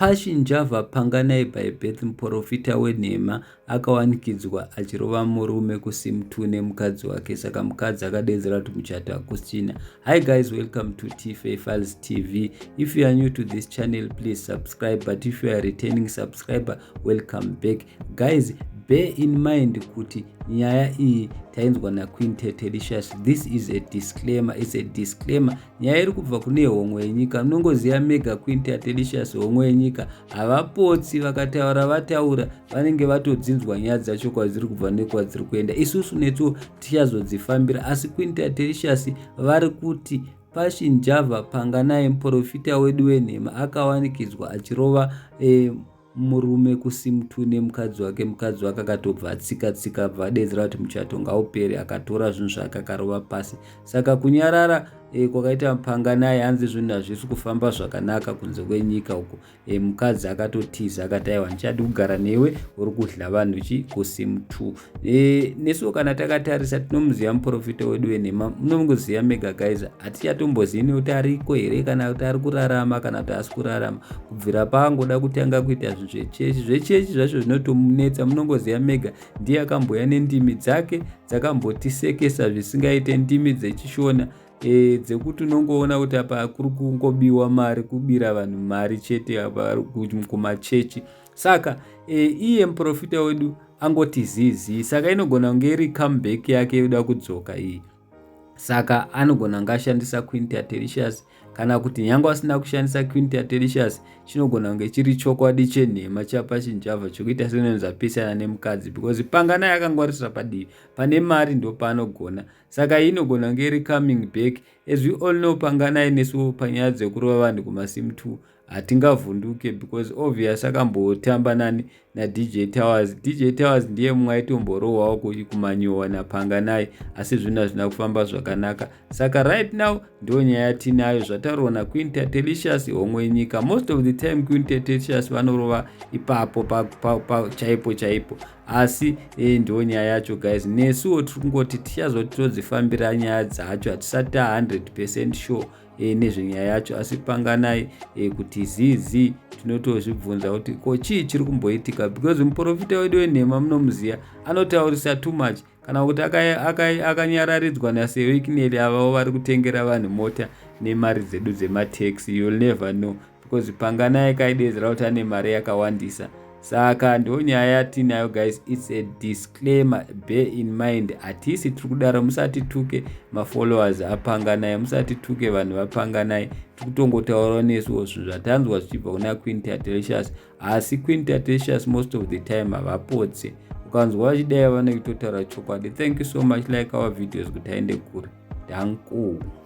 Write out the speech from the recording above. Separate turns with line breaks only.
Passion Java Panganai by Beth Muporofita wenhema akawanikidzwa achirova murume kusimtu nemukadzi wake saka mukadzi akadeedzera kuti muchato hakusina. Hi guys welcome to TFA Files TV. If you are new to this channel please subscribe but if you are returning subscriber welcome back. Guys bear in mind kuti nyaya iyi tainzwa naquintet delicious this is a disclaimer it's a disclaimer nyaya iri kubva kune homwe yenyika munongoziva mega quint atelicious homwe yenyika havapotsi vakataura vataura vanenge vatodzinzwa nyaya dzacho kwadziri kubva nekwadziri kuenda isusu netwo tichazodzifambira asi quint atelicious vari kuti pashinjava panganai muprofita wedu wenhema akawanikidzwa achirova eh, murume kusimtu nemukadzi wake mukadzi wake akatobva atsika tsika abva adedzera kuti muchato ngaupere akatora zvinhu zvake akarova pasi saka kunyarara e, kwakaita mupanga naye hanzi zvinhu hazvisi kufamba zvakanaka kunze kwenyika uko e, mukadzi akatotiza akati aiwa ndichadi kugara newe uri kudla vanhu chi kusimtu e, nesuwo kana takatarisa tinomuziva muprofita wedu wenhema munomuziva mega guys hatichatombozivi nekuti ariko here kana kuti ari kurarama kana kuti asi kurarama kubvira paangoda kutanga kuita zvinhu zvechechi zvechechi zvacho zvinotomunetsa munongoziva mega ndiye akamboya nendimi dzake dzakambotisekesa zvisingaite ndimi dzechishona e, dzekuti unongoona kuti apa kuri kungobiwa mari kubira vanhu mari chete apa kumachechi saka e, iye muprofita wedu angoti zizi saka inogona kunge iri comeback yake yoda kudzoka iyi saka anogona kunge ashandisa quinta telicious kana kuti nyange asina kushandisa quinta telicious chinogona kunge chiri chokwadi chenhema chapachinjava chokuita senonzi apesana nemukadzi because pangana yakangwarisira padivi pane mari ndo paanogona saka iyi inogona kunge iri coming back as we all know panganai nesu panyaya dzekurova vanhu kumasim two hatingavhunduke because obvious akambotamba nani nadj towers dj towers ndiye mumwe aitomborohwawo kumanyowa napanganai asi zvinhu hazvina kufamba zvakanaka saka right now ndo nyaya tinayo zvataurwa naqueen tatelicious homwe yenyika most of the time queen tatelicious vanorova ipapo chaipo chaipo asi e, ndo nyaya yacho guys nesuwo tiri kungoti tichazoti todzifambira nyaya dzacho hatisati ta 100 percent sure e, nezvenyaya yacho asi panganai e, kuti zii zii tinotozvibvunza kuti ko chii chiri kumboitika because muprofita wedu wenhema munomuziva anotaurisa too much kana kuti akanyararidzwa naseoikineli avavo vari kutengera vanhu mota nemari dzedu dzematex youll never know because panganai kaidedzera kuti ane mari yakawandisa saka ndo nyaya yatinayo guys its a disclaimer be in mind hatisi tiri kudaro musatituke mafollowers apanganai musatituke vanhu vapanganai tiri kutongotaurawo nesuwo zvinhu zvatanzwa zvichibva kuna queen tatricious asi queen tatricious most of the time havapotse ukanzwa vachidai vanekutotaura chokwadi thank you so much like our videos kuti aende kure dhankuu